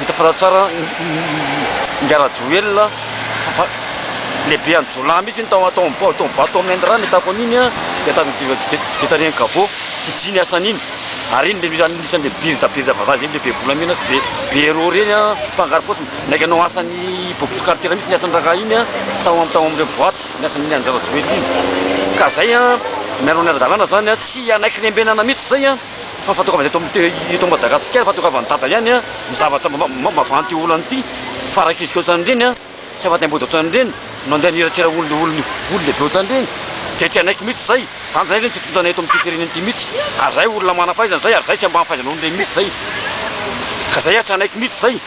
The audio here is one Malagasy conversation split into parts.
Hita fa tsara ny Rajoelina fa lehibe any jiolahy mihitsy iny tao tao am tao bato tao Inde rano hitako an'iny an dia tany dia dia tarehin'i Gabo tsy ny asany iny ary iny le anisany le be be be vazaha zay le be volamena sy be be euro reny an mpangaro paosy naika anao asany bobo sy karitiera mihitsy ny asany rangahy iny an tao am tao amle boaty ny asany ny an-dRajoelina iny ka zay an mialona ny ara-dalàna zany an tsy hanaiky lembenana mihitsy zay an fa fahatokavan'ny eto amin'ny te- eto Madagasikara, fahatokavan'ny dada ihany a, ny zavatra ma- ma- mavanty io olana ity, farak'izika ohatran'ireny a, tsy afa-taim-body ohatran'ireny, no andeha aniratsira olona olona olona lehibe ohatran'ireny, dia tsy hanaiky mihitsy izay, izany izay ireny tsy tontanay eto amin'ity firenena ity mihitsy, ary izay olona manam-pahaizana izay, ary izay tsy ambany fahaizanao an'ireny mihitsy izay, ka izay ary tsy hanaiky mihitsy izay.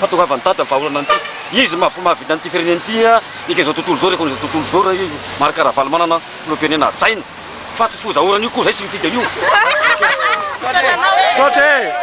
fahatongavan'i Dada ny vahaolana an'ity. Izy no mahafoy mahavita an'ity firenena ity eka izao tontolo izao, rekon'izao tontolo izao raha i Marc Ravalomanana filoham-pirenena hajaina fa tsy fozaorana io koa izay tsy mifidy an'io. Misaotra anao e.